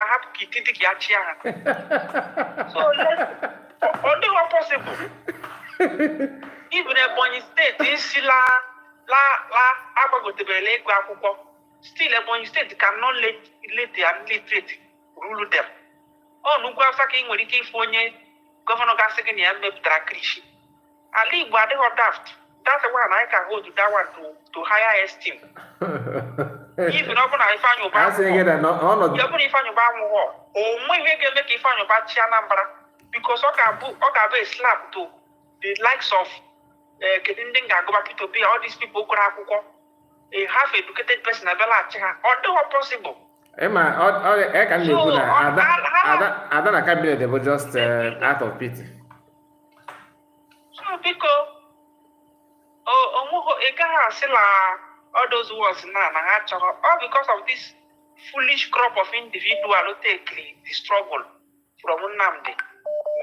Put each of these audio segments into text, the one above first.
ahapụ ka iti dị ka ya chịa ha so ọ dịghị pọsịbụl even ebonyi steeti ị sị la la la agbagotebela ịgụ akwụkwọ still ebonyi steeti cannot let an illiterate rule them ọ n'ugwu awụsa ka ị nwere ike ịfụ onye gọvanọ ga-asị gị na ya mepụtara kilishi ala Igbo adịghị daft that's why na anyị ka hold that one to, to higher esteem even ọ bụrụ na Ifeanyi Uba anwụghọ o nweghị ihe ga-eme ka Ifeanyi Uba chịa Anambra because ọ ga-abụ ọ ga-abụ a slap to the likes of eh, kedu ndị m ga-agụba Peter Obi all these people gụrụ akwụkwọ a half educated person abịa la-achị ha ọ dịghọ possible ị ma ọ ka m na-ekwu na ada na kabinet bụ just eh, out of pity biko o nweghị ị gaghị asị na all those words na na ha chọrọ all because of this foolish crop of individual who take the struggle from Nnamdi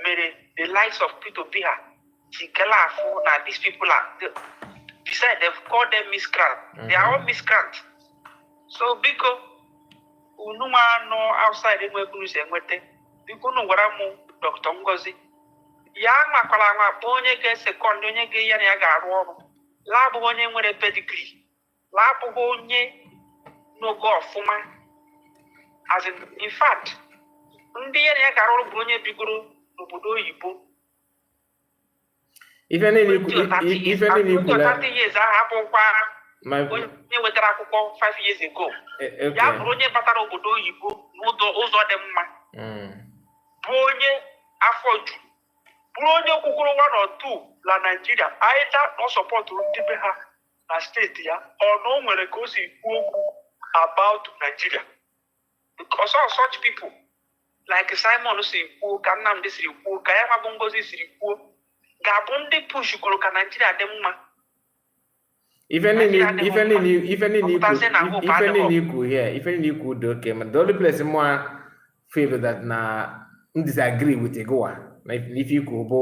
mere the likes of Peter Obi ha si kele afụ na these people are they, besides they've called them miscreant they are all miscreant so biko unu nwa nọ outside e nwee ka unu si enweta biko unu gwara m dọkịta ngozi ya anwakwara anwa kpọọ onye ga-esekọnd onye ga ya na ya ga-arụ ọrụ la-abụghị onye nwere pedigri la-abụghị onye nọgo ọfụma as in, in fact ndị ya na ya ga-arụ ọrụ bụrụ onye bigoro n'obodo oyibo ife niile i kwu ife niile i kwu na years ahụ abụkwara onye nwetara akwụkwọ 5 years ago e, e, ya bụrụ onye batara obodo oyibo n'ụzọ ụzọ dị mma hmm. bụ onye afọ ju bụrụ onye kwukwuru nwa na otu na naijiria anyị ta na ọ sọpọtụrụ ndị be ha na steeti ya or na o nwere ka o si kwuo okwu about naijiria because of such people like Simon siri kwuo ka Nnamdi siri kwuo ka ya nwa bụ Ngozi siri kwuo ga-abụ ndị pushgoro ka Naijiria dị mma ọ pụtazie na hope adịghị here ife niile i kwuu dị oke mma the only place mụ feel that na m disagree with gị nwa na ife i kwuu bụ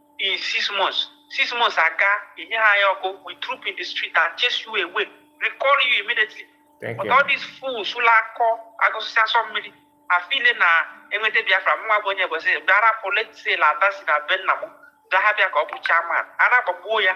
in six months six months a ka enyeghọ anyị ọkụ we troop in the street and chase you away recall you immediately Thank you. but all these fools ụlọ akọ agụsịsị asọ mmiri a-feel na e nweta biafra mụnwa bụ onye bọsị bịara pụletsel ada si na be nna m gaha bịa ka ọ bụ chairman a na-agbagbuo ya